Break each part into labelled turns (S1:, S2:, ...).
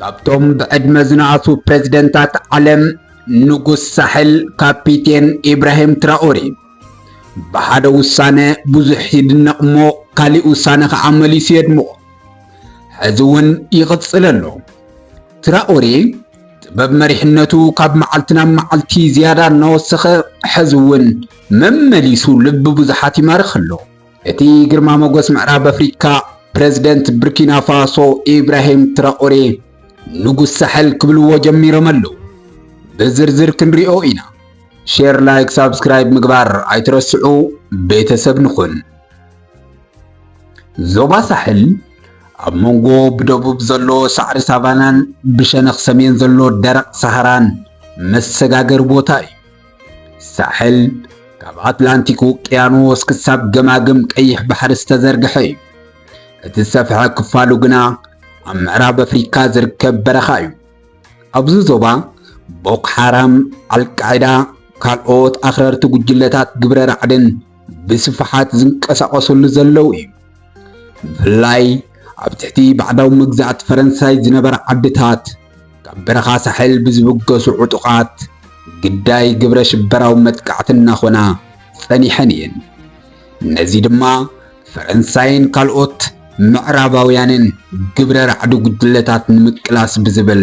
S1: ካብቶም ብዕድመ ዝነኣሱ ፕሬዝደንታት ዓለም ንጉስ ሳሕል ካፒቴን ኢብራሂም ትራኦሬ ብሓደ ውሳነ ብዙሕ ይድነቕ እሞ ካሊእ ውሳነ ከዓ መሊሱ የድምቖ ሕዚ እውን ይቕፅል ኣሎ። ትራኦሬ ጥበብ መሪሕነቱ ካብ መዓልቲ ናብ መዓልቲ ዝያዳ እናወሰኸ ሕዚ እውን መመሊሱ ልቢ ብዙሓት ይማርኽ ኣሎ። እቲ ግርማ ሞገስ ምዕራብ ኣፍሪካ ፕረዚደንት ብርኪና ፋሶ ኢብራሂም ትራኦሬ ንጉስ ሳሕል ክብልዎ ጀሚሮም ኣለዉ። ብዝርዝር ክንሪኦ ኢና። ሼር ላይክ ሳብስክራይብ ምግባር ኣይትረስዑ ቤተሰብ ንኹን። ዞባ ሳሕል ኣብ መንጎ ብደቡብ ዘሎ ሳዕሪ ሳቫናን ብሸነኽ ሰሜን ዘሎ ደረቕ ሰሃራን መሰጋገሪ ቦታ እዩ። ሳሕል ካብ ኣትላንቲክ ውቅያኖስ ክሳብ ገማግም ቀይሕ ባሕሪ ዝተዘርግሐ እዩ። እቲ ዝሰፍሐ ክፋሉ ግና ኣብ ምዕራብ ኣፍሪካ ዝርከብ በረኻ እዩ። ኣብዚ ዞባ ቦኮ ሓራም፣ ኣልቃዒዳ፣ ካልኦት ኣኽረርቲ ጉጅለታት ግብረ ራዕድን ብስፍሓት ዝንቀሳቐስሉ ዘለዉ እዩ። ብፍላይ ኣብ ትሕቲ ባዕዳዊ መግዛእቲ ፈረንሳይ ዝነበራ ዓድታት ካብ በረኻ ሳሕል ብዝብገሱ ዕጡቓት ግዳይ ግብረ ሽበራዊ መጥቃዕቲ እናኾና ጸኒሐን እየን። ነዚ ድማ ፈረንሳይን ካልኦት ምዕራባውያንን ግብረ ራዕዲ ጉጅለታት ንምቅላስ ብዝብል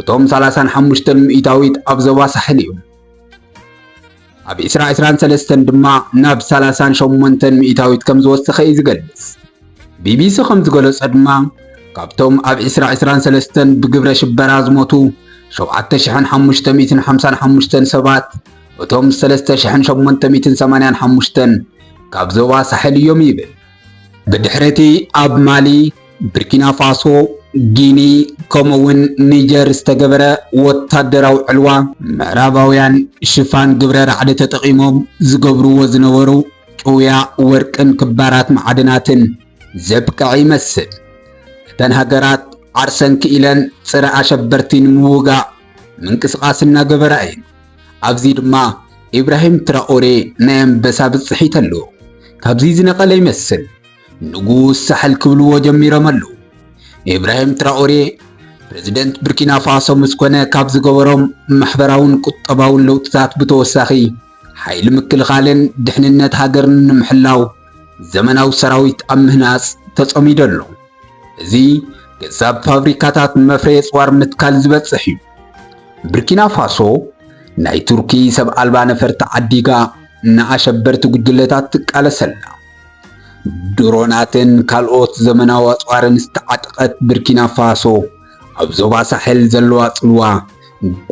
S1: እቶም ሰላሳን ሓሙሽተን ሚእታዊት ኣብ ዞባ ሳሕል እዩ። ኣብ ዕስራ ዕስራን ሰለስተን ድማ ናብ ሰላሳን ሸሞንተን ሚእታዊት ከም ዝወሰኸ እዩ ዝገልጽ። ቢቢሲ ከም ዝገለጾ ድማ ካብቶም ኣብ ዕስራ ዕስራን ሰለስተን ብግብረ ሽበራ ዝሞቱ ሸውዓተ ሽሕን ሓሙሽተ ሚእትን ሓምሳን ሓሙሽተን ሰባት እቶም ሰለስተ ሽሕን ሸሞንተ ሚእትን ሰማንያን ሓሙሽተን ካብ ዞባ ሳሕል እዮም ይብል። ብድሕሪ'ቲ ኣብ ማሊ፣ ብርኪናፋሶ፣ ጊኒ ከምኡ'ውን ኒጀር ዝተገበረ ወታደራዊ ዕልዋ፣ ምዕራባውያን ሽፋን ግብረ ራዕዲ ተጠቒሞም ዝገብርዎ ዝነበሩ ጭውያ ወርቅን ክባራት ማዕድናትን ዘብቅዐ ይመስል። እተን ሃገራት ዓርሰን ክኢለን ጸረ ኣሸበርቲ ንምውጋእ ምንቅስቓስ እናገበራ እየን። ኣብዚ ድማ ኢብራሂም ትራኦሬ ናይ ኣንበሳ ብጽሒት ኣለዎ። ካብዚ ዝነቐለ ይመስል ንጉስ ሳሕል ክብልዎ ጀሚሮም ኣለዉ። ኢብራሂም ትራኦሬ ፕረዚደንት ብርኪና ፋሶ ምስ ኮነ ካብ ዝገበሮም ማሕበራውን ቁጠባውን ለውጥታት ብተወሳኺ ሓይሊ ምክልኻልን ድሕንነት ሃገርን ንምሕላው ዘመናዊ ሰራዊት ኣብ ምህናጽ ተጸሚዱ ኣሎ። እዚ ገዛብ ፋብሪካታት መፍረየ ጽዋር ምትካል ዝበጽሕ እዩ። ብርኪና ፋሶ ናይ ቱርኪ ሰብ ኣልባ ነፈርቲ ዓዲጋ ንኣሸበርቲ ጉጅለታት ትቃለስ ኣላ። ድሮናትን ካልኦት ዘመናዊ ኣጽዋርን ዝተዓጥቀት ብርኪና ፋሶ ኣብ ዞባ ሳሕል ዘለዋ ጽልዋ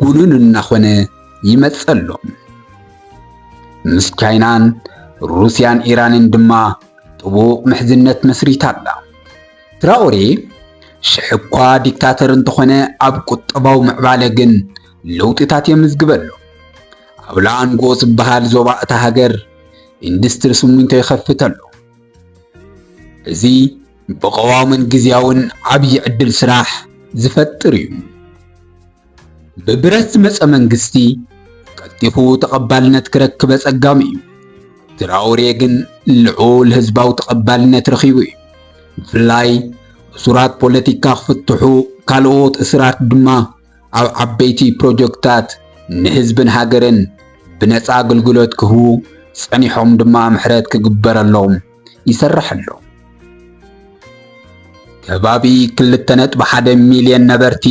S1: ጉኑን እናኾነ ይመጽእ ኣሎ። ምስ ቻይናን ሩስያን ኢራንን ድማ ጥቡቕ ምሕዝነት መስሪታ ኣላ። ትራኦሬ ሽሕ'ኳ ዲክታተር እንተኾነ ኣብ ቁጠባዊ ምዕባለ ግን ለውጢታት የምዝግብ ኣሎ። ኣብ ላኣንጎ ዝበሃል ዞባ እታ ሃገር ኢንዱስትሪ ስሚንቶ ይኸፍት ኣሎ። እዚ ብቐዋምን ግዝያውን ዓብዪ ዕድል ስራሕ ዝፈጥር እዩ። ብብረት ዝመጸ መንግስቲ ቀልጢፉ ተቐባልነት ክረክብ ኣጸጋሚ እዩ። ትራኦሬ ግን ልዑል ህዝባዊ ተቐባልነት ረኺቡ እዩ። ብፍላይ እሱራት ፖለቲካ ክፍትሑ፣ ካልኦት እሱራት ድማ ኣብ ዓበይቲ ፕሮጀክታት ንህዝብን ሃገርን ብነፃ ኣገልግሎት ክህቡ ጸኒሖም ድማ ምሕረት ክግበረሎም ይሰርሕ ኣሎ። ከባቢ 2.1 ሚልዮን ነበርቲ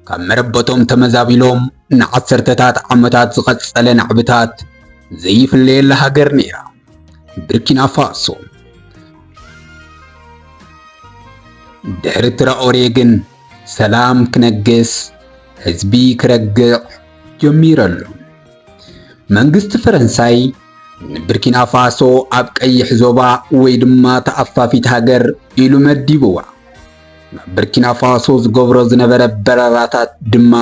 S1: ካብ መረበቶም ተመዛቢሎም ንዓሰርተታት ዓመታት ዝቐጸለ ናዕብታት ዘይፍለየላ ሃገር ነይራ ብርኪና ፋሶ። ድሕሪ ትራኦሬ ግን ሰላም ክነግስ፣ ህዝቢ ክረግዕ ጀሚሩ ኣሎ። መንግስቲ ፈረንሳይ ንብርኪና ፋሶ ኣብ ቀይሕ ዞባ ወይ ድማ ተኣፋፊት ሃገር ኢሉ መዲብዋ። ናብ ብርኪና ፋሶ ዝገብሮ ዝነበረ በረራታት ድማ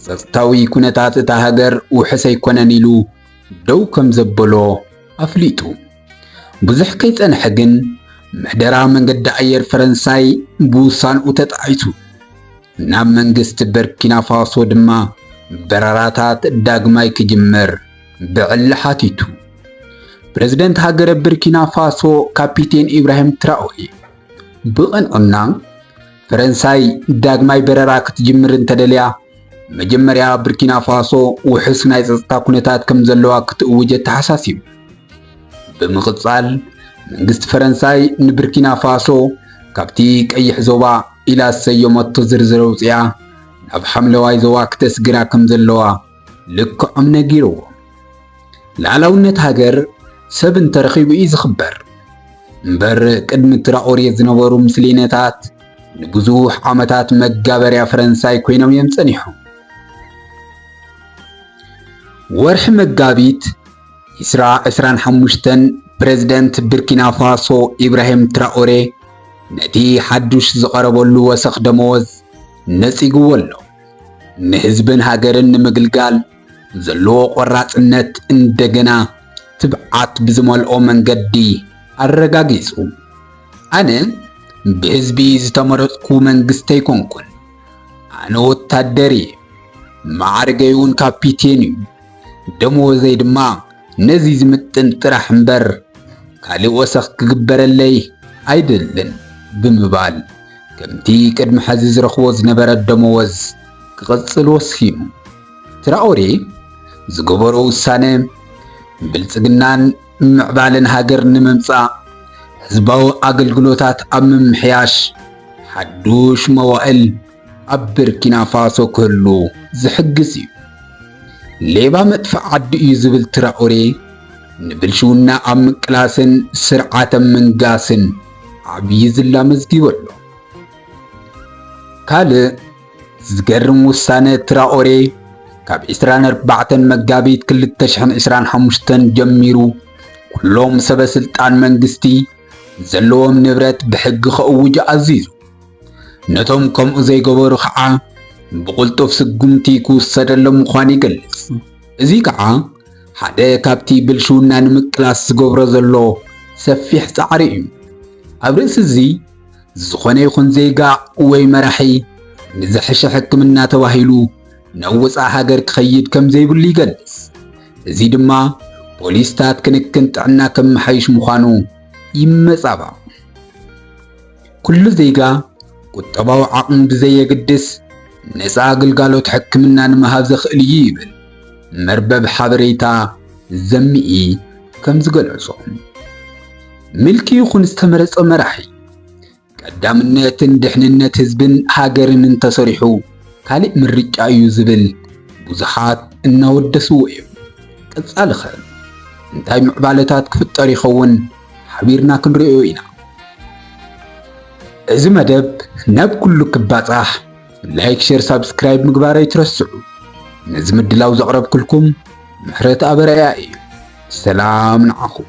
S1: ጸጥታዊ ኩነታት እታ ሃገር ውሑስ ኣይኮነን ኢሉ ደው ከም ዘበሎ ኣፍሊጡ። ብዙሕ ከይጸንሐ ግን ምሕደራ መንገዲ ኣየር ፈረንሳይ ብውሳንኡ ተጣዒሱ። ናብ መንግስቲ በርኪናፋሶ ድማ በረራታት ዳግማይ ክጅመር ብዕሊ ሓቲቱ። ፕረዚደንት ሃገረ በርኪናፋሶ ካፒቴን ኢብራሂም ትራኦሬ ብቕንዕና ፈረንሳይ ዳግማይ በረራ ክትጅምር እንተደልያ መጀመርያ ብርኪና ፋሶ ውሑስ ናይ ጸጥታ ኩነታት ከም ዘለዋ ክትእውጅ ኣተሓሳሲቡ። ብምቕጻል መንግስቲ ፈረንሳይ ንብርኪና ፋሶ ካብቲ ቀይሕ ዞባ ኢላ ዝሰየመቶ ዝርዝር ኣውጽኣ ናብ ሓምለዋይ ዞባ ክተስግራ ከም ዘለዋ ልክዖም ነጊርዎ። ላዕላውነት ሃገር ሰብ እንተረኺቡ እዩ ዝኽበር እምበር ቅድሚ ትራኦሬ ዝነበሩ ምስሌነታት ንብዙሕ ዓመታት መጋበርያ ፈረንሳይ ኮይኖም እዮም ጸኒሖም። ወርሒ መጋቢት ኢስራ ዕስራን ሓሙሽተን ፕረዚደንት ብርኪና ፋሶ ኢብራሂም ትራኦሬ ነቲ ሓዱሽ ዝቐረበሉ ወሰኽ ደመወዝ ነጺግዎ ኣሎ። ንህዝብን ሃገርን ንምግልጋል ዘለዎ ቆራጽነት እንደገና ትብዓት ብዝመልኦ መንገዲ ኣረጋጊጹ። ኣነ ብህዝቢ ዝተመረጽኩ መንግስቲ ኣይኮንኩን። ኣነ ወታደር እየ። ማዕርገይ እውን ካፒቴን እዩ። ደመወዘይ ድማ ነዚ ዝምጥን ጥራሕ እምበር ካልእ ወሰኽ ክግበረለይ ኣይደልን ብምባል ከምቲ ቅድሚ ሕዚ ዝረኽቦ ዝነበረ ደመወዝ ክቕጽል ወሲኑ። ትራኦሬ ዝገበሮ ውሳነ ብልጽግናን ምዕባለን ሃገር ንምምጻእ ህዝባዊ ኣገልግሎታት ኣብ ምምሕያሽ ሓዱሽ መዋእል ኣብ ብርኪና ፋሶ ክህሉ ዝሕግዝ እዩ። ሌባ መጥፍእ ዓዲ እዩ ዝብል ትራኦሬ ንብልሽውና ኣብ ምቅላስን ስርዓተ ምንጋስን ዓብዪ ዝላ መዝጊቡ ኣሎ። ካልእ ዝገርም ውሳነ ትራኦሬ ካብ 24 መጋቢት 2025 ጀሚሩ ኩሎም ሰበ ስልጣን መንግስቲ ዘለዎም ንብረት ብሕጊ ከእውጁ ኣዚዙ። ነቶም ከምኡ ዘይገበሩ ከዓ ብቕልጡፍ ስጉምቲ ክውሰደሎም ምዃኑ ይገልጽ። እዚ ከዓ ሓደ ካብቲ ብልሽውና ንምቅላስ ዝገብሮ ዘሎ ሰፊሕ ጻዕሪ እዩ። ኣብ ርእሲ እዚ ዝኾነ ይኹን ዜጋ ወይ መራሒ ንዝሐሸ ሕክምና ተባሂሉ ናብ ወፃኢ ሃገር ክኸይድ ከም ዘይብሉ ይገልጽ። እዚ ድማ ፖሊስታት ክንክን ጥዕና ከመሓይሽ ምዃኑ ይመጻባቕ። ኩሉ ዜጋ ቁጠባዊ ዓቕሙ ብዘየግድስ ነፃ ግልጋሎት ሕክምና ንምሃብ ዘኽእል እዩ ይብል መርበብ ሓበሬታ ዘሚኢ ከም ዝገለጾ። ምልኪ ይኹን ዝተመረጸ መራሒ ቀዳምነትን ድሕንነት ህዝብን ሃገርን እንተሰሪሑ ካልእ ምርጫ እዩ ዝብል ብዙሓት እናወደስዎ እዮም። ቀጻልኸ እንታይ ምዕባለታት ክፍጠር ይኸውን ሓቢርና ክንሪኦ ኢና። እዚ መደብ ናብ ኩሉ ክባጻሕ ላይክ፣ ሼር፣ ሳብስክራይብ ምግባር ኣይትረስዑ። ነዚ ምድላው ዘቕረብክልኩም ምሕረት ኣበርያ እዩ። ሰላም ንዓኹም።